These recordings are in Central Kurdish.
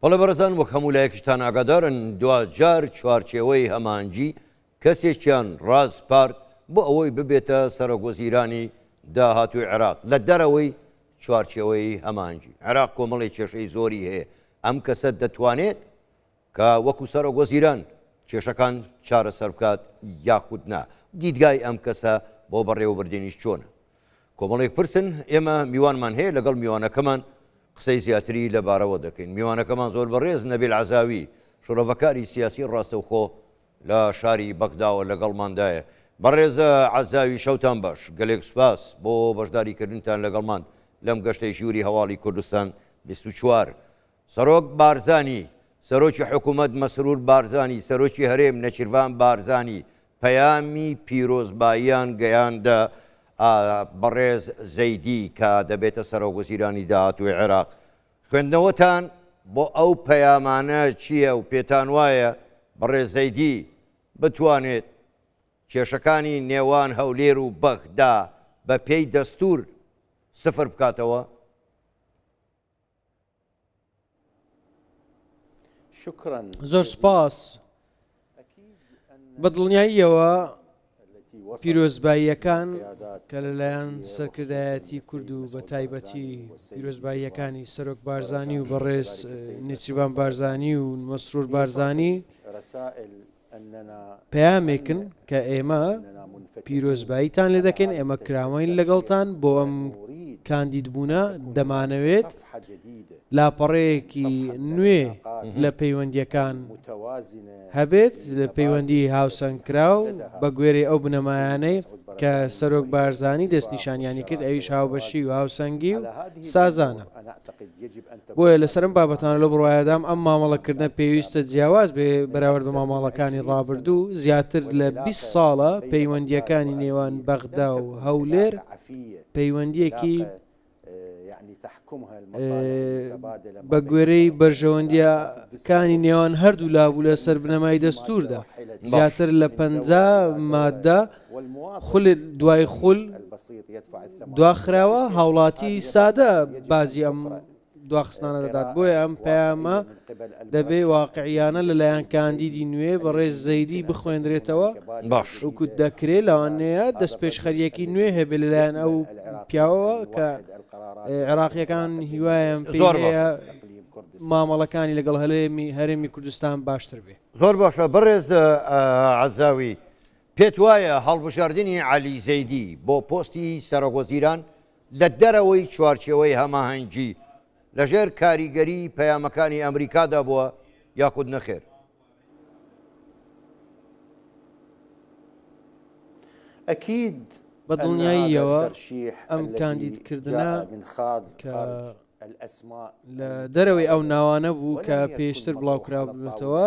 بەڵێ بەڕێزان وەک هەموو لایەکشتان ئاگادارن دواجار چوارچێوەی هەمانجی کەسێکیان ڕاسپارد بۆ ئەوەی ببێتە سەرۆک وەزیرانی داهاتووی عێراق لە دەرەوەی چوارچێوەی هەمانجی عێراق کۆمەڵی کێشەی زۆری هەیە ئەم کەسە دەتوانێت کە وەکو سەرۆک وەزیران کێشەکان چارەسەر بکات یاخود نا دیدگای ئەم کەسە بۆ بەڕێوەبردنیش چۆنە کۆمەڵێک پرسن، ئێمە میوانمان هەیە لەگەڵ میوانەکەمان قسەی زیاتری لەبارەوە دەکەین. میوانەکەمان زۆر بەڕێز نەبیل عەزاوی، شڕۆڤەکاری سیاسی ڕاستەوخۆ لە شاری بەغداوە لەگەڵماندایە. بەڕێز عەزاوی شەوتان باش، گەلێک سوپاس بۆ بەشداریکردنتان لەگەڵمان لەم گەشتەی ژووری هەواڵی کوردستان بیست و چوار. سەرۆک بارزانی، سەرۆکی حکوومەت مەسرور بارزانی، سەرۆکی هەرێم نێچیرڤان بارزانی پەیامی پیرۆزباییان گەیاندە بەڕێز زەیدی کە دەبێتە سەرۆکوەزیرانی داهاتووی عێراق. خوێندنەوەتان بۆ ئەو پەیامانە چییە و پێتانوایە بەڕێز زەیدی بتوانێت کێشەکانی نێوان هەولێر و بەغدا بەپێی دەستوور سفر بکاتەوە؟ زۆر سوپاس بە دڵنیاییەوە پیرۆزباییەکان کە لەلایەن سەرکردایەتی کورد و بە تایبەتی پیرۆزباییەکانی سەرۆک بارزانانی و بەڕێز نیچیبان بارزانانی و مەسرور بارزانانی پەیامێکن کە ئێمە پیرۆزباییتان لێ دەکەین، ئێمە کراوەین لەگەڵتان بۆ ئەم کاندیدبوونە، دەمانەوێت لاپەڕەیەکی نوێ لە پەیوەندییەکان هەبێت، پەیوەندیی هاوسەنگکراو بەگوێرەی ئەو بنەمایانەی کە سەرۆک بارزانی دەستنیشانیانی کرد، ئەویش هاوبەشی و هاوسەنگی و سازانە. بۆیە لەسەر ئەم بابەتانە لەو بڕوایەدام ئەم مامەڵەکردنە پێویستە جیاواز بێ بەراورد بە ماماڵەکانی ڕابردوو، زیاتر لە بیست ساڵە پەیوەندییەکانی نێوان بەغدا و هەولێر پەیوەندییەکی بە گوێرەی بەرژەوەندییە کانی نێوان هەردوو لابوو لەسەر بنەمای دەستووردا زیاتر لە پەنجا مادە، خول دوای خول دواخراوە، هاوڵاتی سادە باجی ئەم دواخستنانە دەدات، بۆیە ئەم پەیامە دەبێ واقعییانە لەلایەن کاندیدی نوێ بەڕێز زەیدی بخوێندرێتەوە، وەکو دەکرێ لەوانەیە دەستپێشخەرییەکی نوێ هەبێ لەلایەن ئەو پیاوەوە کە عێراقییەکان هیوایان پێی هەیە مامەڵەکانی لەگەڵ هەرێمی کوردستان باشتر بێ. زۆر باشە بەڕێز عەزاوی، پێت وایە هەڵبژاردنی عەلی زەیدی بۆ پۆستی سەرۆکوەزیران لە دەرەوەی چوارچێوەی هەماهەنگی لەژێر کاریگەری پەیامەکانی ئەمریکادا بووە یاخود نەخێر؟ ئەکید بەدڵنیاییەوە ئەم کاندیدکردنە کە لە دەرەوەی ئەو ناوانە بوو کە پێشتر بڵاوکرابوونەتەوە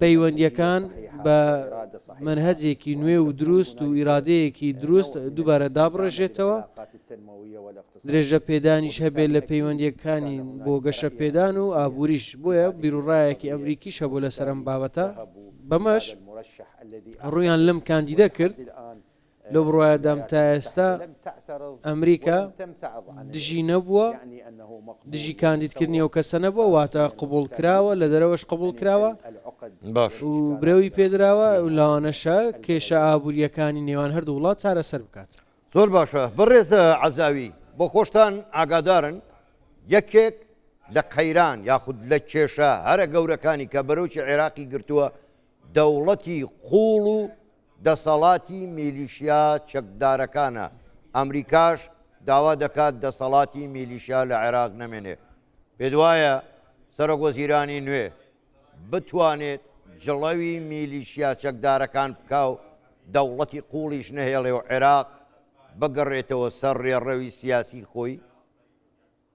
پەیوەندییەکان بە مەنهەجێکی نوێ و دروست و ئیرادەیەکی دروست دووبارە دابڕێژێتەوە، درێژەپێدانیش هەبێت لە پەیوەندییەکانی بۆ گەشەپێدان و ئابووریش، بۆیە بیروڕایەکی ئەمریکیش هەبوو لەسەر ئەم بابەتە، بەمەش ڕوویان لەم کاندیدە کرد. لەو بڕوایەدام تا ئێستا ئەمریکا دژی نەبووە، دژی کاندیدکردنی ئەو کەسە نەبووە، واتە قبوڵکراوە، لە دەرەوەش قبوڵکراوە و برەوی پێدراوە، لەوانەشە کێشە ئابوورییەکانی نێوان هەردوو وڵات چارەسەر بکات. زۆر باشە بەڕێز عەزاوی، بۆ خۆشتان ئاگادارن یەکێک لە قەیران یاخود لە کێشە هەرە گەورەکانی کە بەرۆکی عێراقی گرتووە دەوڵەتی قووڵ و دەسەڵاتی میلیشیا چەکدارەکانە، ئەمریکاش داوا دەکات دەسەڵاتی میلیشیا لە عێراق نەمێنێت، پێتوایە سەرۆکوەزیرانی نوێ بتوانێت جڵەوی میلیشیا چەکدارەکان بکا و دەوڵەتی قوڵیش نەهێڵێ و عێراق بگەڕێتەوە سەر ڕێڕەوی سیاسی خۆی؟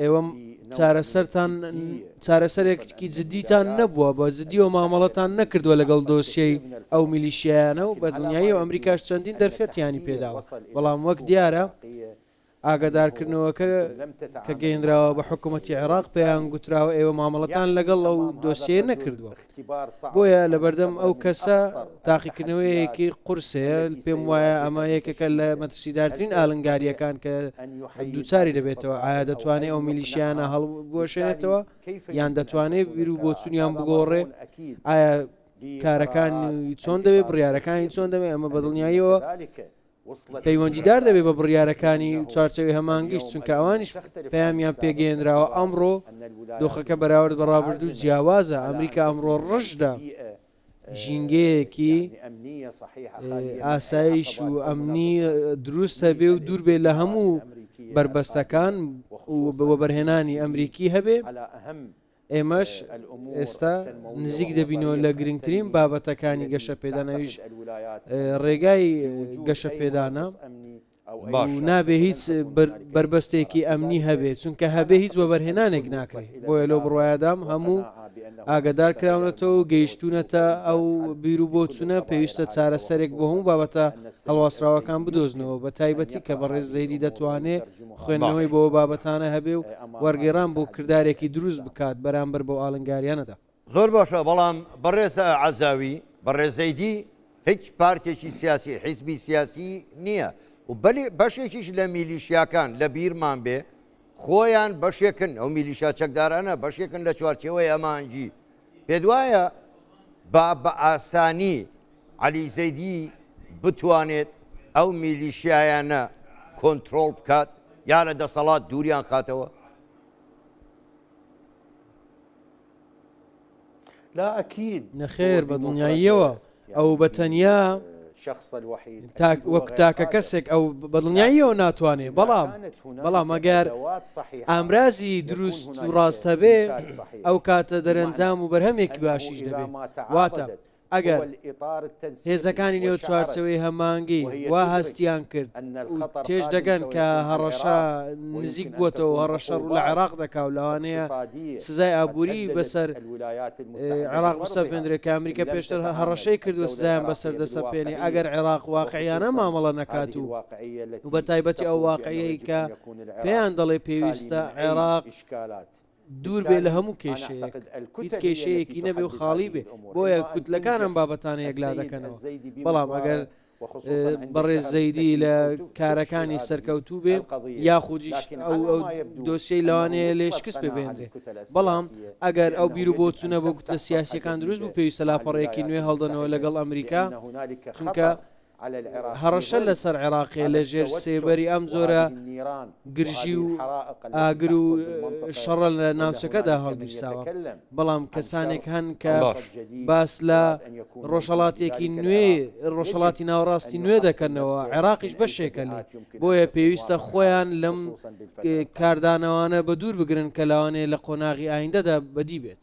ئێوەم چارەسەرتان چارەسەرێکی جددیتان نەبووە بە جددیەوە مامەڵەتان نەکردووە لەگەڵ دۆسیەی ئەو میلیشیایانە و بەدڵنیایی و ئەمریکاش چەندین دەرفەتیانی پێداوە بەڵام وەک دیارە ئاگادارکردنەوەکە کە گەیندراوە بە حکوومەتتی عێراق پێیان گوتراوە ئێوە مامەڵەتان لەگەڵ ئەو دۆسیە نەکردووە. بۆیە لەبەردەم ئەو کەسە تاقیکردنەوەیەکی قورس هەیە، پێم وایە ئەمە یەکێکە لە مەترسیدارترین ئالنگارییەکان کە دووچاری دەبێتەوە، ئایا دەتوانێت ئەو میلیشیانە هەڵبوەشێنێتەوە یان دەتوانێت بیرو بۆچونیان بگۆڕێ، ئایا کارەکانی چۆن دەبێت، بڕیارەکانی چۆن دەبێت، ئەمە بەدڵنیاییەوە پەیوەندیدار دەبێت بە بڕیارەکانی چوارچێوەی هەمانگیش، چونکە ئەوانیش پەیامیان پێگەیەنراوە، ئەمڕۆ دۆخەکە بەراورد بە ڕابردوو جیاوازە، ئەمریکا ئەمڕۆ ڕژدە ژینگەیەکی ئاسایش و ئەمنی دروست هەبێ و دوور بێت لە هەموو بەربەستەکان و وەبەرهێنانی ئەمریکی هەبێ، ئێمەش ئێستا نزیک دەبینەوە لە گرنگترین بابەتەکانی گەشەپێدان ئەویش ڕێگای گەشەپێدانە نابێ هیچ بربەستێکی ئەمنی هەبێت چونکە هەبێ هیچ وەبەرهێنانێک ناکرێت بۆیە لەو بڕایەدام هەموو ئاگدار کراونەتەوە و گەیشتونەتە ئەو بیر و بۆچونە پێویستە چارەسەرێک بۆ هەموو بابەتە هەڵواسراوەکان بدۆزنەوە بە تایبەتی کە بەڕێز زەیری دەتوانێت خوێندنەوەی بۆ ئەو بابەتانە هەبێ و وەرگێڕان بۆ کردارێکی دروست بکات بەرامبەر بەو ئاڵنگاریانەدا. زۆر باشە بەڵام بەڕێز عەزاوی بەڕێزەی دی هیچ پارتێکی سیاسی حیزبی سیاسی نیە و بەلی بەشێکیش لە میلیشیاکان لە بیرمان بێ خۆیان بەشێکن ئەو میلیشا چەکدارانە بەشێکن لە چوارچێوەی ئەمانجی پێت وایە با بە ئاسانی عەلی زەیدی بتوانێت ئەو میلیشیایانە کۆنترۆڵ بکات یا لە دەسەڵات دووریان خاتەوە؟ لا اكيد نەخێر بە دڵنیاییەوە ئەو بە تەنیا تاک وەک تاکە کەسێک ئەو بە دڵنیاییەوە ناتوانێت بەڵام بەڵام ئەگەر ئامرازی دروست و ڕاست هەبێ ئەو کاتە دەرەنجام و بەرهەمێکی باشیش دەبێت واتە ئەگەر هێزەکانی نێو چوارچێوەی هەمانگی وا هەستیان کرد و تێش دەگەن کە هەڕەشە نزیک بووەتەوە و هەڕەشە ڕوو لە عێراق دەکا و لەوانەیە سزای ئابووری بەسەر عێراق بسەپێندرێت کە ئەمریکا پێشتر هەڕەشەی کردووە سزایان بەسەر دەسەپێنێ ئەگەر عێراق واقعییانە مامەڵە نەکات و و بەتایبەتی ئەو واقعیەی کە پێیان دەڵێ پێویستە عێراق دوور بێ لە هەموو کێشەیەک هیچ کێشەیەکی نەبێ و خاڵی بێ بۆیە کوتلەکان ئەم بابەتانە یەکلا دەکەنەوە بەڵام ئەگەر بەڕێز زەیدی لە کارەکانی سەرکەوتوو بێ یاخودیش دۆسیەی لەوانەیە لێ شکست پێبێنرێ بەڵام ئەگەر ئەو بیرو بۆ چونە بۆ کوتلە سیاسەکان دروست بوو پێویستە لاپەڕەیەکی نوێ هەڵدەنەوە لەگەڵ ئەمریکا چونکە هەڕەشە لەسەر عێراقێ لە ژێر سێبەری ئەم جۆرە گرژی و ئاگر و شەڕە لە ناوچەکەدا هەڵگیرساوە، بەڵام کەسانێک هەن کە باس لە ڕۆژهەڵاتێکی نوێی ڕۆژهەڵاتی ناوەڕاستی نوێ دەکەنەوە، عێراقیش بەشێکە لێی، بۆیە پێویستە خۆیان لەم کاردانەوانە بەدوور بگرن کە لەوانەیە لە قۆناغی ئایندەدا بەدی بێت.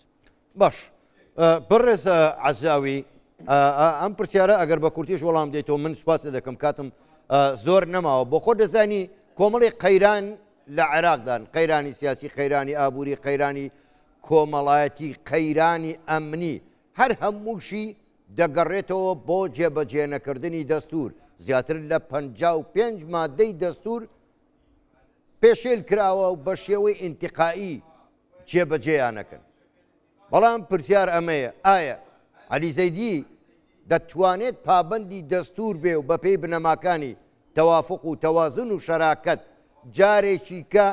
باش بەڕێز عزاوی ئەم پرسیارە ئەگەر بە کورتیش وەڵام دەیتەوە من سوپاسی دەکەم کاتم زۆر نەماوە بۆ خۆ دەزانی کۆمەڵی قەیران لە عێراقدان قەیرانی سیاسی قەیرانی ئابووری قەیرانی کۆمەڵایەتی قەیرانی ئەمنی هەر هەمووشی دەگەڕێتەوە بۆ جێبەجێنەکردنی دەستور زیاتر لە پ پێنج مادەی دەستور پێشێل کراوە و بە شێوەی ئینتقایی جێبەجێیانەکەن. بەڵام پرسیار ئەمەیە، ئایا عەلی زەیدی دەتوانێت پابەندی دەستوور بێ و بەپێی بنەماکانی تەوافق و تەوازن و شەراکەت جارێکیکە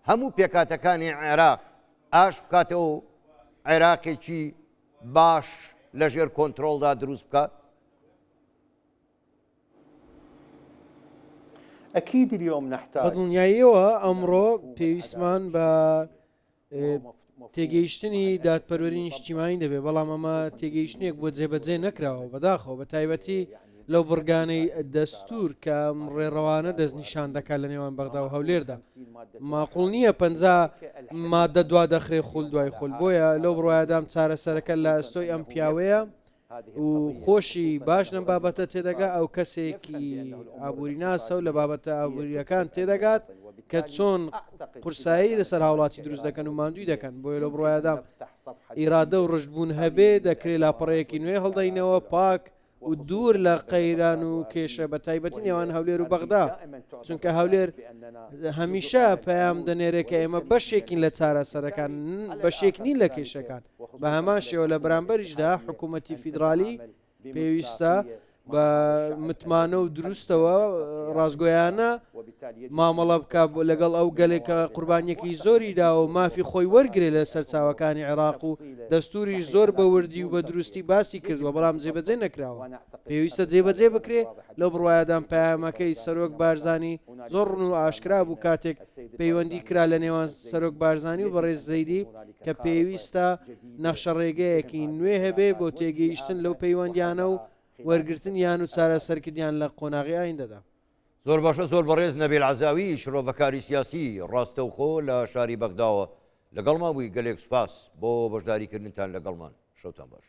هەموو پێکهاتەکانی عێراق ئاش بکاتەوە و عێراقێکی باش لەژێر کۆنترۆڵدا دروست بکات؟ بە دڵنیاییەوە ئەمڕۆ پێویستمان بە تێگەیشتنی دادپەروەری نیشتیمانی دەبێت بەڵام ئەمە تێگەیشتنێک بۆ جێبەجێ نەکراوە بەداخەوە بە تایبەتی لەو بڕگانەی دەستور کە ڕێڕەوانە دەست نیشان دەکات لە نێوان بەغدا و هەولێردا ماقل نییە پ مادە دوا دەخرێ خول دوای خول بۆیە لەو بڕایدام چارەسەرەکە لە ئەستۆی ئەم پیاوەیە و خۆشی باش لەم بابەتە تێدەگا ئەو کەسێکی ئابووریناسە و لە بابەتە ئابووریەکان تێدەگات کە چۆن قورسایی لەسەر هاوڵاتی دروست دەکەن و ماندوی دەکەن بۆیە لە بڕایدام ئیرادە و ڕژبوون هەبێ دەکرێ لاپەڕەیەکی نوێ هەڵدەینەوە پاک و دوور لە قەیران و کێشە بە تایبەتی نێوان هەولێر و بەغدا چونکە هەولێر هەمیشە پەیام دەنێرێ کە ئێمە بەشێکین لە چارەسەرەکان بەشێک نین لە کێشەکان بە هەمان شێوە لە بەرامبەریشدا حکوومەتی فیدرالی پێویستە بە متمانە و دروستەوە ڕاستگۆیانە مامەڵە بکە لەگەڵ ئەو گەلێکە قوربانیەکی زۆری دا و مافی خۆی وەرگێ لە سەرچاوەکانی عێراق و دەستوریش زۆر بەوردی و بە دروستی باسی کردووە بەڵام جێبەجێ نەکراوە پێویستە جێبەجێ بکرێ لە بڕواایەدان پامەکەی سەرۆک بارزانانی زۆر ڕون و ئاشکرا بوو کاتێک پەیوەندی کرا لە نێوان سەرۆک بارزانانی و بەڕێز زەیدی کە پێویستە نەخشەڕێگەیەکی نوێ هەبێ بۆ تێگەیشتن لەو پەیوەندیانە و وەرگرتنیان و چارەسەرکردنیان لە قۆناغی ئایندەدا. زۆر باشە زۆر بەڕێز نەبیل عەزاوی شڕۆڤەکاری سیاسی ڕاستەوخۆ لە شاری بەغداوە لەگەڵمان بووی گەلێک سوپاس بۆ بەشداریکردنتان لەگەڵمان شەوتان باش.